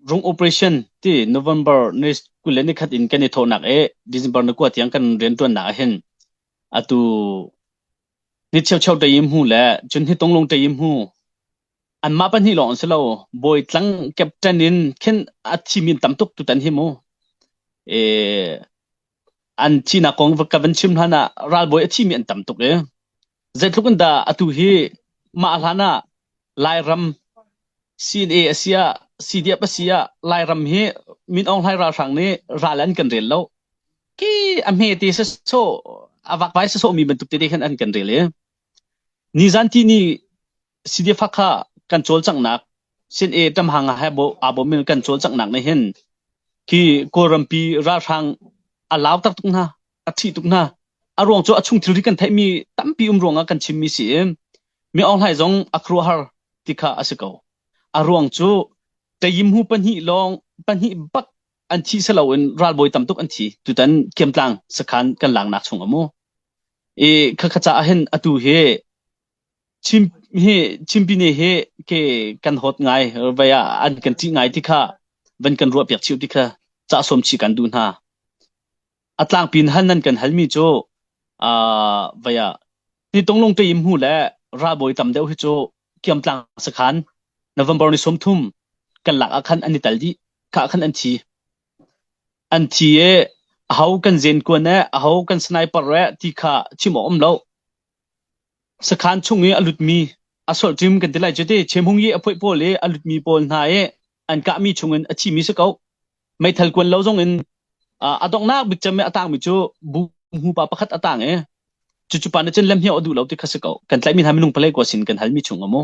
Rum operation ti November ni kul le nikhat in kan i thawhnak i December ni kua tiang kan rianṭuannak ahhin atu ni cheucheu ṭei i hmu le cun ni tonglong ṭei i hmu anmah pahnih lawng an si lo bawi tlang captain in khin a thimi tam tuk tutan hi mu. an thihnak kong ka van chim hlan ah ralbawi a thimi an tam tuk i zeitluk in dah atu hi mah hlan ah Lairam CNA a si ah CDF a si ah Lairam hi Min Aung Hlaing ralhrang nih ral an kan rel lo ki a hme te se so a vak pai se so mi bantuk te te khan an kan rel i nizan ti ni Sidifak kha kan cawlcanghnak Sin-e ṭamhang ah aa bawm in kan cawlcanghnak nih hin hi Kawlrampi ralhrang a lau tak tuk hna, a ṭhih tuk hna. A ruang cu a chung thilri kan theihmi tampi um ruangah kan chimmi si i mi aunghlai zong a khuaruahhar ti kha a si ko. A ruang cu ṭayimhu pahnih lawng pahnih bak an thi seloin ralbawi tam tuk an thi. Tutan Kiamtlang sakhan kan laknak chung a mu. I khakha caah hin atu hi Chimpine hi ke kan hawt ngai, vei ah an kan ṭih ngai ti kha van kan ruahpiak chih u ti kha cahsawm chih kan duh hna. A tlangpi in hal nan kan halmi cu vei ah nitunglung teim hnu le ralbawi tam deuh hi cu kiamtlang sakhan November ni sawmthum kan lak ah khan an i tel dih. Khah khan an thi. An thi i aho kan zenkuan le aho kan sniper le ti kha chim awk um lo. Sakhan chung i a lutmi a solhṭim kan ti lai cu ti. Chemhung i a phoih pawl i a lutmi pawl hna i an kahmi chungin a thimi si ko. Meithal kuan lo zongin a donghnak bik cem i a tangmi cu bu-hmupa pakhat a tang i cucu pa nih cun lemhniau a duh lo ti kha si ko. Kan tlaihmi hna minung palei kua sin kan halmi chung a mu.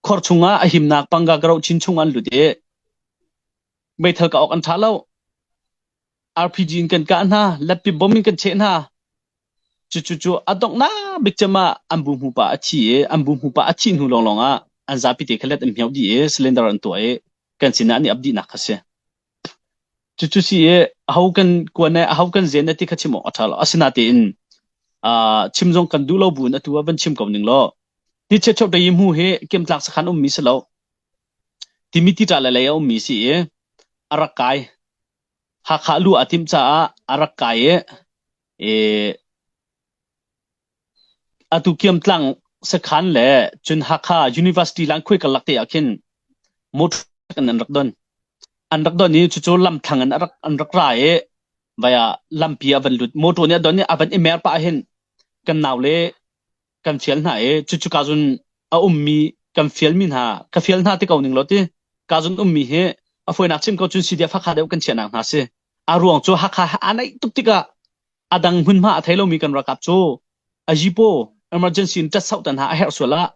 Khor chungah a himnak pangga ka roh chin chungah an lut i meithal ka awk an ṭha lo. RPG in kan kah hna, latpi bom in kan cheh hna. Cucucu a donghnak bik cem ah an bu hmupa a thi i an bu hmupa a thih hnu lawnglawng ah an zapi te kha let an hmiau dih i cylinder an tuah i kan sinah an i ap dihnak kha si. Cucu si i aho kan kuan i aho kan zen ti kha chim awk a ṭha lo. Asinatein uh, chim zong kan duh lo buin atu ah van chim ko ning law ti chiat chop dei mu hi kemtlak sakhan ummi si lo timi ti ṭa le lei a ummi si i a rak kai Hakha lu a timh caah a rak kai i atu Kiamtlang sakhan le cun Hakha University Langkhuai karlak te ah khin motor in an rak don. An rak don i cucu lamthlang in an rak ra i vaiah lampi a van lut. Motor nih a don i a van i mer pah ahhin kan nau le kan fial hna i cucu ka zun a ummi kan fialmi hna ka fial hna ti ko ning law ti ka zun ummi hi a fuinak chim ko cun si dia fakha deuh kan chiahnak hna si a ruang cu hakha a naih tuk tikah a dang hmunhma a thei lomi kan rakap cu a jipo emergency in tat sau tan ha a herh sual ah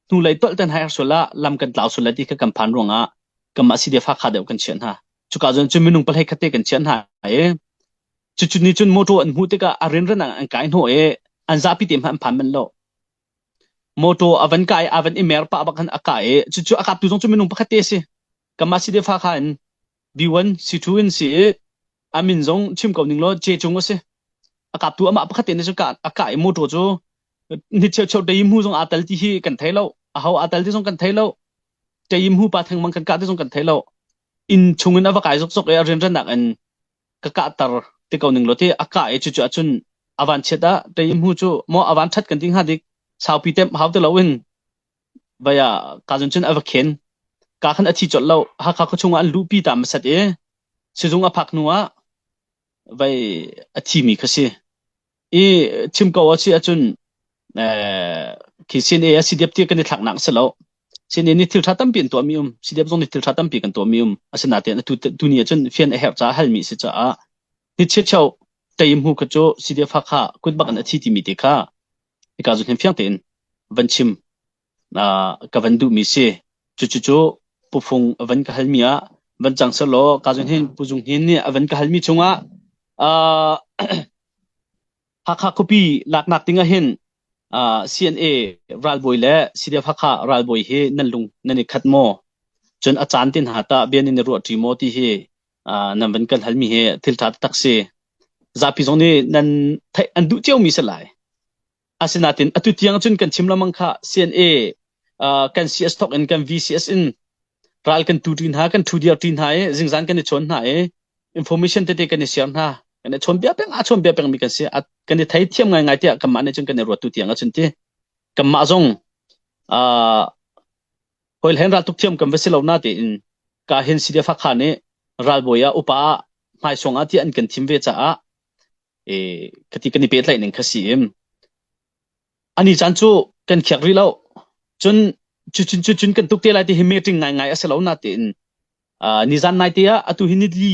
hnu lei tolh tan ha herh sual ah lam kan tlau sual lai ti ka kan phan ruang ah kam ah si dia fakha deuh kan chiah hna cuka zun cu minung palhei khatte kan chiah hna i Cucu nih cun motor an hmuh tikah a rianrannak an kai hnawh i an zapi te hmanh an phan manh lo. Motor a van kai, a van i mer pah bak khan a kah i cucu a kaptu zong cu minung pakhat te a si. Kanmah si te fa kha in B1, C2 in si i a min zong chim ko ning law C cung a si. A kaptu amah pakhat te nih cu kah, a kah i motor cu ni cheu cheu teim hu zong aa tel ti hi kan thei lo. A ho aa tel ti zong kan thei lo. Teim hu pa thengmang kan kah ti zong kan thei lo. Inn chungin a va kai zokzok i a rianrannak in ka kahter ti ko ning law ti a kah i cucu ahcun a van chiat ah tei hmu cu maw a van that kan ti hnga dik saupi temp hau ti loin vaya ka zun cun a va khen ka khan a thi colh lo hakha khua chung ah an luhpi ta masat i sizung a phak hnu ah vai a thi mi kha si I chim ko a si ahcun khi CNA a si diap ti kan i thlaknak a si lo. CNA nih thiltha tampi an tuahmi um, CDF zong nih thiltha tampi kan tuahmi um. Asinain tuni ahcun fian a herh caah halmi si caah ni chiachio teim hu kha cu CDF Hakha kut bak in a thi timi te kha hika zun hin fiang tein van chim ka van duhmi si. Cucucu Pu Fung a van ka halmi ah van cang sehlaw Pu Zung Hnin nih a van ka halmi chungah Hakha khuapi laknak dingah hin CNA ralbawi le CDF Hakha ralbawi hi nan lung nan i khat maw? Cun a caan te hna tah bia nan i ruah ṭi maw ti hi nan van kan halmi hi thil ṭha taktak si. Zapi zong nih nan theih an duh ciomi si lai. Asinain atu tiang cun kan chim lengmang kha CNA uh, kan CS thok in kan VCS in ral kan tu ṭi hna kan ṭhu diar ṭi hna i zingzan kan i chawn hna i information tete kan i share hna kan i chawn bia peng a chawn bia peng mi kan si kan i thei thiam ngai ngai tiah kanmah nih cun kan i ruat tu tiang a cun ti kanmah zong uh, hoil hen ral tuk thiam kan va si lo na te in ka hen sidia fakha nih ralbawi ah upa hmaisong ah ti an kan thim ve caah Khati kan i pehtlaihning kha si im. Ani caan cu kan khiak rih lo. Cun cucun cucun kan tuk te lai ti hi meeting ngaingai a si lo natein uh, nizan naite ah atu hi nili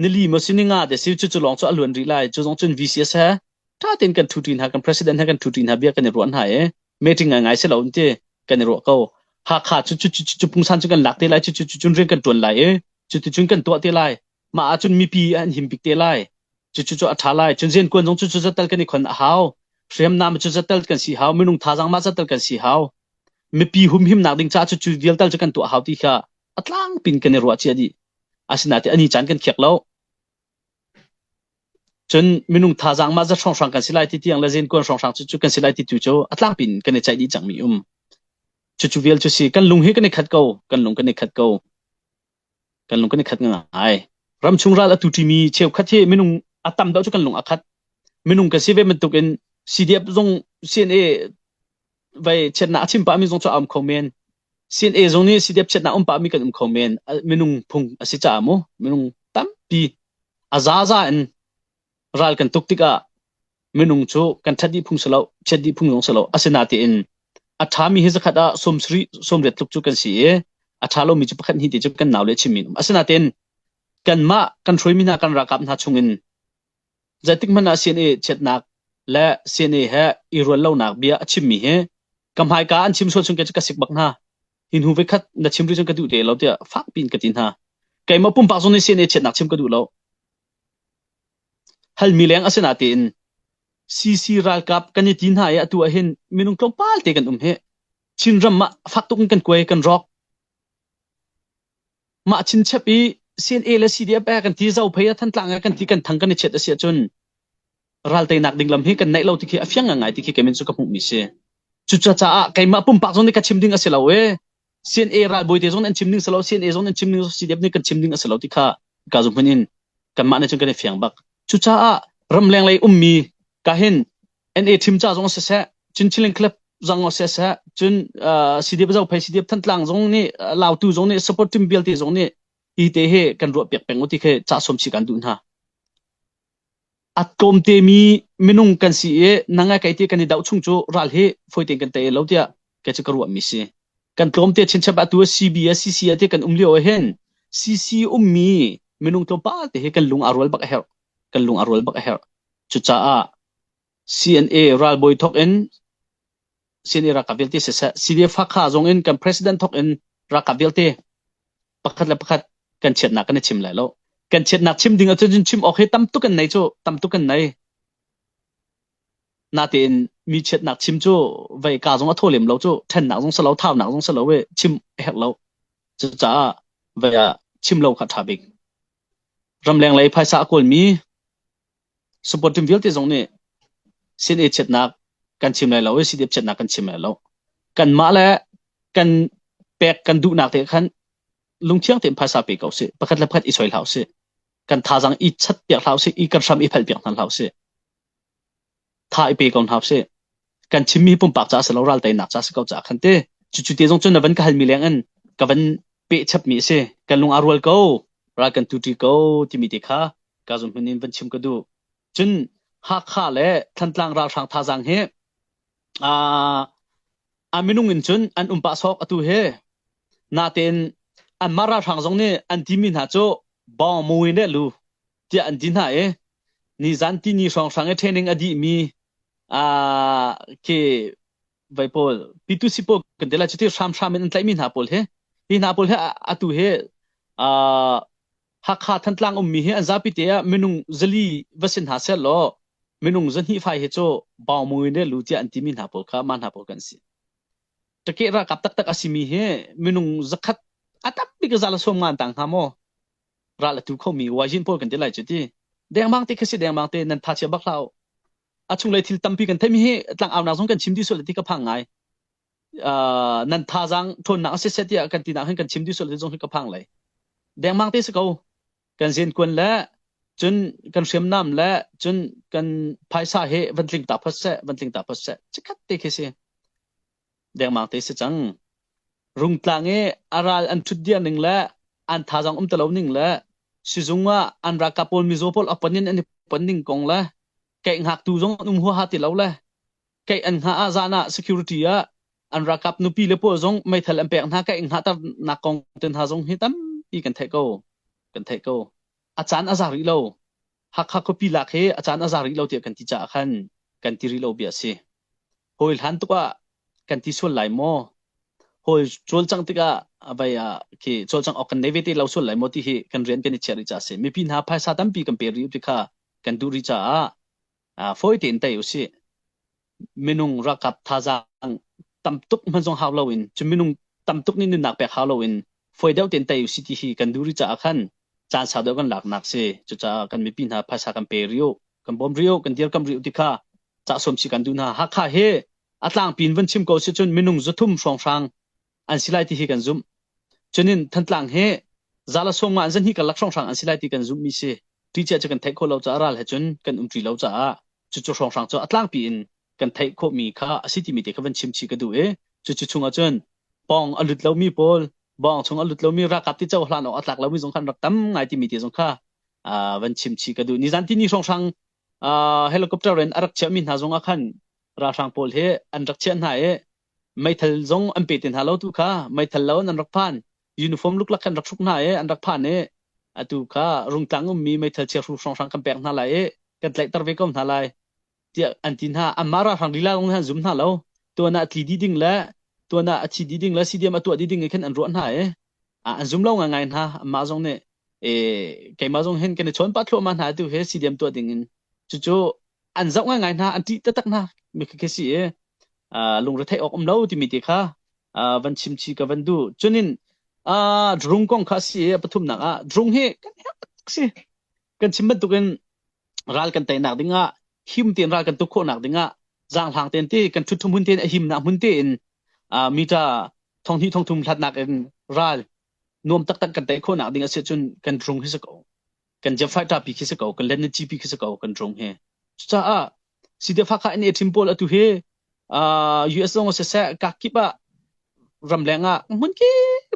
nili maw sining ah desi cucu lawng cu a luan rih lai. Cu zong cun VCS he tha tein kan ṭhuṭi hna, kan president he kan ṭhuṭi hna bia kan i ruah hna i meeting ngaingai si lo in ti kan i ruah ko. Hakha cu cu pungsan cu kan lak te lai cucu cucun rian kan ṭuan lai i cuticun kan tuah te lai. Mah ahcun mipi an him bik te lai. Cucu cu a ṭha lai. Cun rianṭuan zong cucu zatel kan i khon a hau. Hriamnam cu zatel kan si hau. Minung thazaang mah zatel kan si hau. Mipi humhimnak ding caah cucu vialte cu kan tuah hau ti kha a tlang pin kan i ruahcia dih. Asinain a ni caan kan khiak lo. Cun minung thazaang mah zat hrawnghrang kan si lai ti tiang le rianṭuan hrawnghrang cucu kan si lai ti tu cu a tlang pin kan i ceih dih cangmi um. Cucu vial cu si. Kan lung hi kan i khat ko. Kan lung kan i khat ko. kan lung kan i khat ngai. Ramchung ral a tu ṭimi cheukhat hi minung a tam deuh cu kan lung a khat. Minung kan si ve bantuk in CDF zong CNA vai chiatnak a chim pahmi zong cu a um kho men. CNA zong nih CDF chiatnak um pahmi kan um kho men. A- Minung phung a si caah mu. Minung tampi a zaza in ral kan tuk tikah minung cu kan ṭhat dih phung si lo, chiat dih phung zong si lo. Asinatein a ṭhami hi zakhat ah sawm sarih, sawm riat tluk cu kan si i a ṭha lomi cu pakhat hnih te cu kan nau le chimmi an um. Asinatein kanmah kan hruaimi hna kan ralkap hna chungin zeitik hmanh ah CNA chiatnak le CNA he i rual lonak bia a chimmi hi ka hmaika an chim sual chung khe cu ka sik bak hna. Hi hnu vekhat na chim rih cun ka duh te lo tiah fakpi in ka ti hna. Keimah pumpak zong nih CNA chiatnak chim ka duh lo. Halmi leng a si natein CC ralkap kan i ti hna i atu ahhin minung tlawmpal te kan um hi. Chinram ah fak tuk in kan kuai kan rawk. Mah chinchep i CNA le CDF eh kan ti zo phei a Thantlang eh kan ti kan thang kan i chiat a si ahcun ralteinak ding lam hi kan neih lo ti khi a fiang ngai ti khi kei min cu ka hmuhmi si. Cucacaah keimah pumpak zong nih ka chim ding a si lo ee. CNA ralbawi te zong an chim ning silo CNA zong an chim ning CDF nih kan chim ning a si lo ti kha ka zu hmun in kanmah nih cun kan i fiang bak cucaah ramleng lei ummi kahin NA thim ca zong siseh Chinchiling Club zang seh seh cun CDF zong phai CDF Thantlang zong nih Lautu zong nih support team vialte zong nih hi te hi kan ruah piak peng ti khi ca som si kan duh hna A tlawmtemi minung kan si i na ngai kei ti kan i doh chung cu ral hi fawi tein kan tei lo tiah kei cu ka ruahmi si. Kan tlawmte chinchap atu a CB a CC a ti kan um lio ahhin CC ummi minung tlawmpal te hi kan lung aa rual bak a herh. Kan lung aa rual bak a herh. Cucaah CNA ralbawi thok in CNA ralkap vialte siseh CDF Hakha zong in kan president thok in ralkap vialte pakhat le pakhat kan chiatnak kan i chim lai lo kan chiatnak chim ding ahcun cun chim awk hi tam tuk an nei cu tam tuk an nei natein mi chiatnak chim cu vei ka zong a tho lem lo cu thennak zong salo thaunak zong salo we chim a herh lo cucaah vei ah chim lo kha tha bik ramleng lei phaisa a kawl mi Supporting vialte zong nih sin i chiatnak kan chim lai lo i sitip chiatnak kan chim lai lo. Kanmah le kan pek kan duhnak te khan lungthiang tein phaisa pe ko sih. Pakhat le pakhat i soi hlah usih. Kan thazang i chat piak hlah usih. I kan hram i phal piak hna hlah usih. tha i pe ko hna sih. Kan chimmi pumpak ca si lo ral teinak ca si ko caah khan te. Cucu te zong cun na van ka halmi leng in ka van pehchapmi a si. Kan lung aa rual ko. Ral kan tuti ko timi te kha ka zun hmun in van chim ka duh. Cun Hakha le Thantlang ralhrang thazang hi uh, a minung in cun an um pah sawk atu he natein an mah ralhrang zong nih an timi hna cu bawng muin le lu tiah an ti hna i nizan ti ni hrawnghrang i training a dih mi uh, ke vai pawl pitu si pawl kan te la cu ti hramhram in an tlaih mi hna pawl he hi hna pawl he atu he uh, hakha thantlang um mi hi an zapi te ah minung zali va sin hna ser law minung zahni fai he cho bao mu ne lu tia an ti mi hna pawl kha ma hna pawl kan si take ra kap tak tak asimi hi minung zakhat atak bi ka zala som ngan tang ha mo ral a tu khomi Wajin pawl kan ti lai cu ti dengmang te khasi dengmang te nan thachia bak hlah a chunglei thil tampi kan theimi hi tlang aunak zong kan chim dih sual ti ka phang ngai uh, nan tha zang thonnak si se tiah kan tinak hin kan chim dih sual ti zong hi ka phang lai dengmang te si ko kan zen kun le cun kan hriam nam le cun kan phaisa he van tling ta phot se van tling ta phot se cikhat te khi si dengmang te si cang rungtlang i a ral an thut diar ning le an tha zong um talo ning le sizung ah an raka pawl mizo pawl apan in an i pan ning kong le kei ngak tu zong an um hua ha ti lo le kei an nga a zan ah security ah an rakap nupi le pawl zong meithal an pek hna kei nga tar nak kong ten ha zong hi tam i kan thei ko kan thei ko a chan a za rih lo Hakha khuapi lak hi a caan a za rih lo tiah kan ti caah khan kan ti rih lo bia a si. Hawi hlan tuk ah kan ti sual lai maw? Hawi cawlcang tikah vai ah khi cawlcang awk kan nei ve te lo sual lai maw ti hi kan rian kan i chiah rih caah a si. Mipi hna phaisa tampi kan pe rih ti kha kan duh rih caah uh, fawi tein tei usih. minung ralkap thazaang tam tuk hmanzong hau loin cu minung tam tuk nih nunnak pek hau loin foi deuh tein tei usih ti hi kan duh rih caah khan caan sau deuh kan laknak si cucaah kan mipi hna phaisa kan pe rio kan bawm rio kan dirkamh rio ti kha cahsuam si kan duh hna hakha hi a tlangpi in van chim ko si cun minung zuthum hrawnghrang an si lai ti hi kan zumh cunin thantlang he zala songma an zan hi kan lak hrawnghrang an si lai ti kan zumh mi si ti cia cu kan theih khawh lo caah ral he cun kan um ṭi lo caah cucu hrawnghrang cu atlangpi in kan theih khawh mi kha asi timi te kha van chim chi ka duh i cucu chungah cun pong a lut lomi pawl bong chung a lut lomi rakap ti cho hlan awk a tlak lomi zong khan rak tam ngai timi te zong kha van chim chi ka duh nizan tini hrawnghrang helicopter in a rak chiah mi hna zong ah khan ralhrang pawl he an rak chiah hna i meithal zong an pe te hna lo tu kha meithal lo an rak phan uniform luklak khan rak hruk hna i an rak phan i atu kha rungtlang ummi meithal chiahru hrawnghrang kan pek hna lai i kan tlaihter ve ko hna lai tiah an ti hna anmah ralhrang lila kong hin an zum hna lo tuan ah tli dih ding le tuan ah a thi dih ding le CDM a tuah dih ding khan an ruah hna i an zum lo ngai hna anmah zong nih keimah zong hin kan i chawn pah thluahmah hna tu hi CDM tuah ding in cucu an zoh ngaingai hna an ṭih taktak hna mi khi khi si i uh, lungretheih awk um lo timi te kha uh, van chimchi ka van duh cunin uh, drung kong kha si i pathumnak ah drung hi kan si kan chim bantukin ral kan teinak dingah him tein ral kan tuk khawhnak dingah zang hlang ten ti kan ṭhut thum hun ten a him nak hun tein uh, mi ta thong hnih thong thum hlatnak in ral nuam taktak kan tei khawhnak ding a si cun kan drung hi sa ko kan jia faita pi khi si ko kan len chi pi khi si ko kan trong he cucaah side fa kha ne thim pol atu he US zong se se ka kip a ram leng a mun ki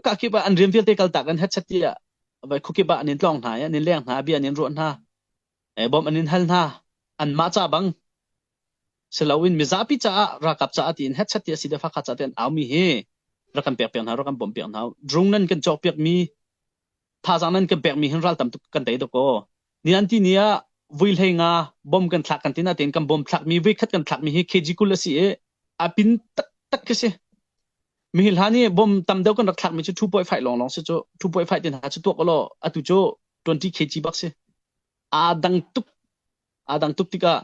ka kip a an riam vialte kal ta kan hat chat ya vai khu kiba anin tlong hna ya anin leng hna bi anin ruan hna e bom anin hal hna an ma cha bang selawin mizapi cha rakap cha atin het chat ya side fa kha cha ten aumi hi rakam pek pek hna rakam bom pek hna drung nan kan chok pek mi Thazaang nan kan pekmi hin ral tam tuk kan tei tuk kaw nianti ni ah vui hlei nga bom kan thlak kan ti natein kan bom thlakmi vui khat kan thlakmi hi kg kul a si i a pin taktak khi si. Mihi hla nih bom tam deuh kan rak thlakmi cu 2.5 lawnglawng si cu 2.5 te hna cu tuak ulaw atu cu 20 kg bak si. Aa dang tuk Aa dang tuk tikah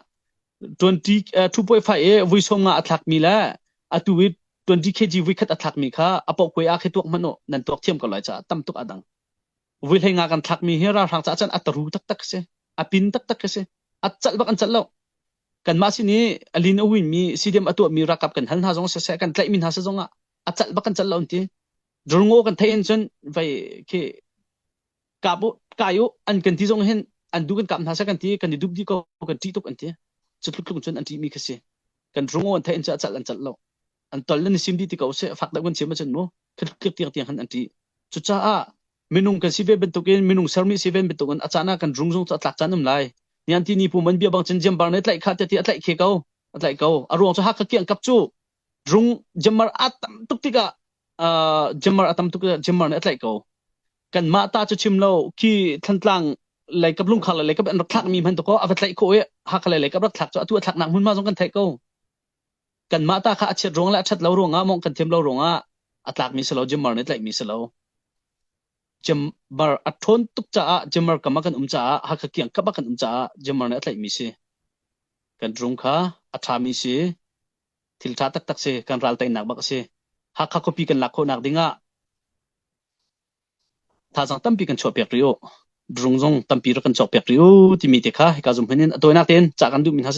twenty uh, two point five i vui sawm nga a thlakmi le atu i twenty kg vui khat a thlakmi kha a pohkoi ah khe tuak hmanh uh, nan tuak thiam ko lai caah tam tuk a dang vui hlei nga kan thlakmi hi ralhrang caah cun a taru taktak si a pin taktak si a cal bak an cal lo kanmah sin i alin a winmi CDM a tuahmi rakap kan hal hna zong sese kan tlaihmi hna se zong ah a cal bak an cal lo an ti rulngo kan theih in cun vai khi kai u an kan ti zong hin an du kan kap hna seh kan ti kan i dup dih ko kan ṭih tuk an ti cu tluk tluk cun an ṭih mi kha si kan rungo an thein cu a cal an cal lo an tol nan sim dih ti ko seh fak deuh kan chiam acun mu khat tiang tiang han an ṭih cucaah minung kan si ve bantukin minung sermi si ven bantukin a caan ah kan rung zong cu a tlak caan um lai nian ti ni pu man bia bang cun jiam bar ne tlaih kha ti a tlaih khe ko a tlaih ko a ruang cu hakha kiang kap cu Rung jamar a tam tuk tikah uh, jamar a tam tuk tikah jamar nih a tlaih ko. Kanmah ta cu chim lo khi Thlantlang leikap lungkhar le leikap an rak thlak mi hman to ko a va tlaih khawh i hakha le leikap rak thlak cu atu a thlak nak hmunma zong kan theih ko kanmah ta kha a chiat ruang le a that lo ruangah mong kan thiam lo ruangah a tlak mi selo jimar ne tlaih mi selo jimar a thon tuk caah jimar kama kan um caah hakha kiang kaba kan um caah jimar ne a tlaih mi si kan rum kha a tha mi si thil ṭha taktak si, kan ralteinak bak a si. Hakha khuapi kan lak khawhnak ding ah thazaang tampi kan chuahpiak rih u. Drung zong tampi rak kan cawkpiak rih u timi te kha hika zumhman in a tawinak tein cah kan duhmi hna si